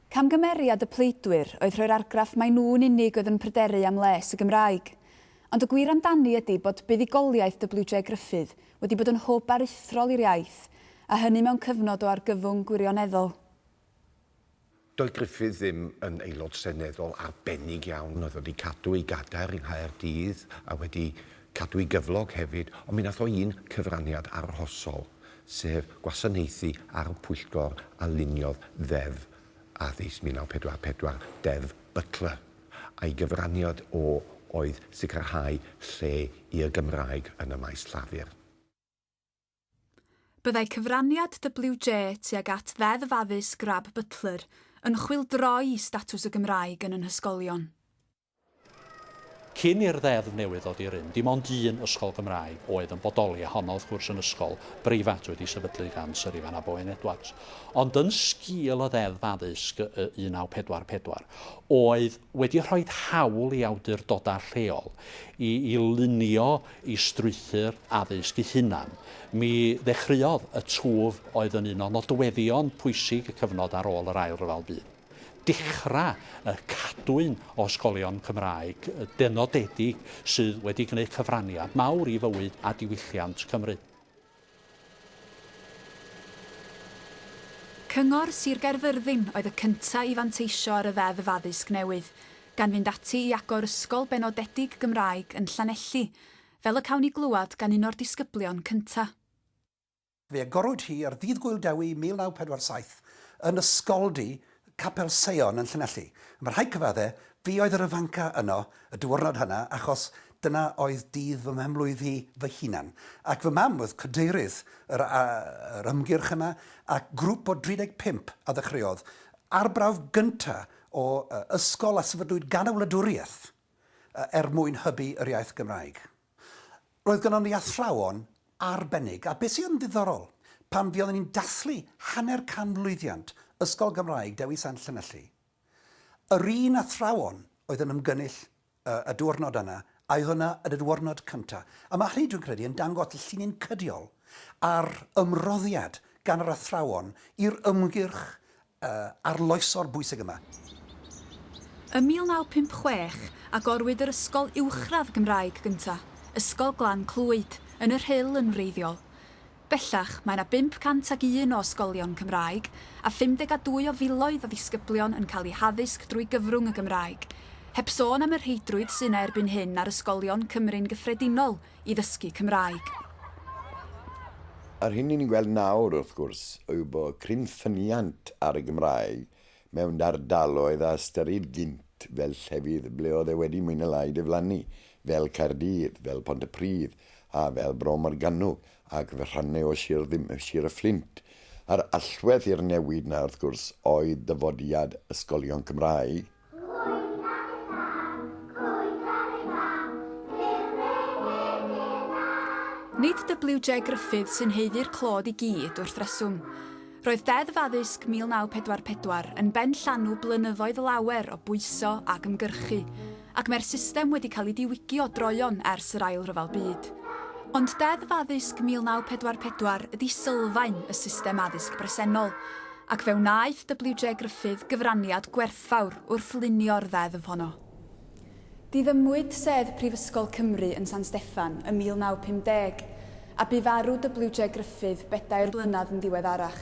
Camgymeriad y pleidwyr oedd rhoi'r argraff mai nhw'n unig oedd yn pryderu am les y Gymraeg. Ond y gwir amdani ydi bod buddugoliaeth WJ Gruffydd wedi bod yn hwb aruthrol i'r iaith, a hynny mewn cyfnod o argyfwng gwirioneddol. Doedd Griffith ddim yn Aelod Seneddol arbennig iawn, oedd wedi cadw ei gadair yng Nghaerdydd a wedi cadw'i gyflog hefyd, ond mi wnaeth o un cyfraniad arhosol, sef gwasanaethu ar y pwyllgor a luniodd Ddeddf Addysg 1944, Deddf Butler, a'i gyfraniad o oedd sicrhau lle i'r Gymraeg yn y maes llafur. Byddai cyfraniad WJ tuag at Ddeddf Addysg Grab Butler yn chwyldroi i statws y Gymraeg yn yn hysgolion. Cyn i'r ddeddf newydd ddod i rym, dim ond un ysgol Gymraeg oedd yn bodoli, a honno wrth gwrs yn ysgol breifat wedi'i sefydlu gan Syr Ifan ab Owain Edwards. Ond yn sgil y Ddeddf Addysg 1944, oedd wedi rhoid hawl i awdurdodau lleol i i lunio y strwythur addysg eu hunain. Mi ddechreuodd y twf oedd yn un o nodweddion pwysig y cyfnod ar ôl yr Ail Ryfel Byd. Dechrau y cadwyn o ysgolion Cymraeg dynodedig sydd wedi gwneud cyfraniad mawr i fywyd a diwylliant Cymru. Cyngor Sir Gaerfyrddin oedd y cyntaf i fanteisio ar y Ddeddf Addysg newydd, gan fynd ati i agor ysgol benodedig Gymraeg yn Llanelli, fel y cawn ni glywed gan un o'r disgyblion cyntaf. Fe agorwyd hi ar Ddydd Gŵyl Dewi 1947 yn Ysgoldy y Capel Seion yn Llanelli. Mae rhai cyfadde, fi oedd yr ifanca yno y diwrnod hynna achos dyna oedd dydd fy mhenblwydd hi fy hunan. Ac fy mam oedd cadeirydd yr yr ymgyrch yna ac grŵp o 35 a ddechreuodd arbrawf gynta o ysgol a sefydlwyd gan y wladwriaeth er mwyn hybu yr iaith Gymraeg. Roedd gynnon ni athrawon arbennig, a beth sydd yn ddiddorol, pan fuoddwn i'n dathlu hanner canmlwyddiant Ysgol Gymraeg Dewi Sant Llanelli, yr un athrawon oedd yn ymgynnull y diwrnod yna a oedd yna yn y diwrnod cynta', a ma' hynny, dwi'n credu, yn dangos y llinyn cydiol a'r ymroddiad gan yr athrawon i'r ymgyrch y arloesol bwysig yma. Ym 1956, agorwyd yr ysgol uwchradd Gymraeg gyntaf, Ysgol Glan Clwyd, yn y Rhyl yn wreiddiol. Bellach, mae yna 501 o ysgolion Cymraeg, a 52 o filoedd o ddisgyblion yn cael eu haddysg drwy gyfrwng y Gymraeg. Heb sôn am y rheidrwydd sy' yna erbyn hyn ar ysgolion Cymru'n gyffredinol, i ddysgu Cymraeg. Yr hyn ni'n gweld nawr, wrth gwrs, yw bod cryn ffyniant ar y Gymraeg mewn ardaloedd a ystyrid gynt fel llefydd ble oedd e wedi mwy na lai diflannu, fel Caerdydd, fel Pontypridd a fel Bro Morgannwg ac rhannau o Sir y Fflint. Yr allwedd i'r newid 'na, wrth gwrs, oedd dyfodiad ysgolion Cymraeg. Nid WJ Gruffydd sy'n haeddu'r clod i gyd, wrth reswm. Roedd Deddf Addysg 1944 yn benllanw blynyddoedd lawer o bwyso ac ymgyrchu, ac mae'r system wedi cael ei diwygio droeon ers yr Ail Ryfel Byd. Ond Deddf Addysg 1944 ydi sylfaen y system addysg bresennol, ac fe wnaeth WJ Gruffydd gyfraniad gwerthfawr wrth lunio'r ddeddf honno. Diddymwyd sedd Prifysgol Cymru yn San Steffan ym 1950, a bu farw WJ Gruffydd bedair blynedd yn ddiweddarach.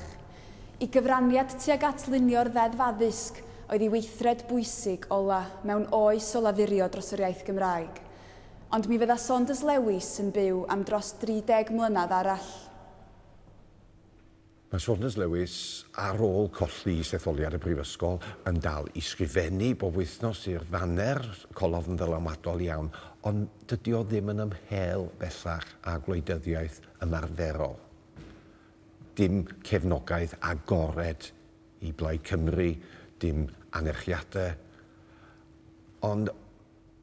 I gyfraniad tuag at lunio'r Ddeddf Addysg oedd ei weithred bwysig ola' mewn oes o lafurio dros yr iaith Gymraeg. Ond mi fydda Saunders Lewis yn byw am dros 30 mlynedd arall. Mae Saunders Lewis, ar ôl colli i setholiad y Brifysgol, yn dal i sgrifennu bob wythnos i'r Ddaner, colofn ddylanwadol iawn, ond dydy o ddim yn ymhél bellach â gwleidyddiaeth ymarferol. Dim cefnogaeth agored i Blaid Cymru, dim anerchiadau, ond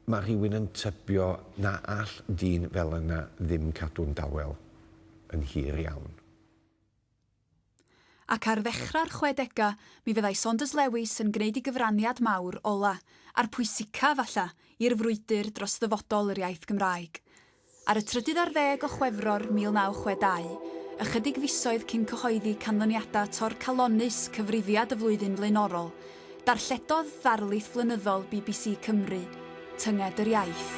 mae rhywun yn tybio na all dyn fel yna ddim cadw'n dawel yn hir iawn. Ac ar ddechrau'r chwedegau, mi fyddai Saunders Lewis yn gwneud ei gyfraniad mawr ola', a'r pwysica', falla, i'r frwydr dros ddyfodol yr iaith Gymraeg. Ar y trydydd ar ddeg o Chwefror 1962, ychydig fisoedd cyn cyhoeddi canlyniadau torcalonnus Cyfrifiad y Flwyddyn flaenorol, Darlledodd ddarlith flynyddol bbc Cymru, Tynged yr Iaith.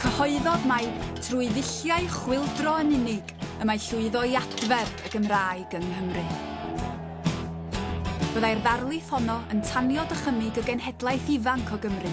Cyhoeddodd mai trwy ddulliau chwyldro yn unig y mae llwyddo i adfer y Gymraeg yng Nghymru. Byddai'r ddarlith honno yn tanio dychymyg y genhedlaeth ifanc o Gymru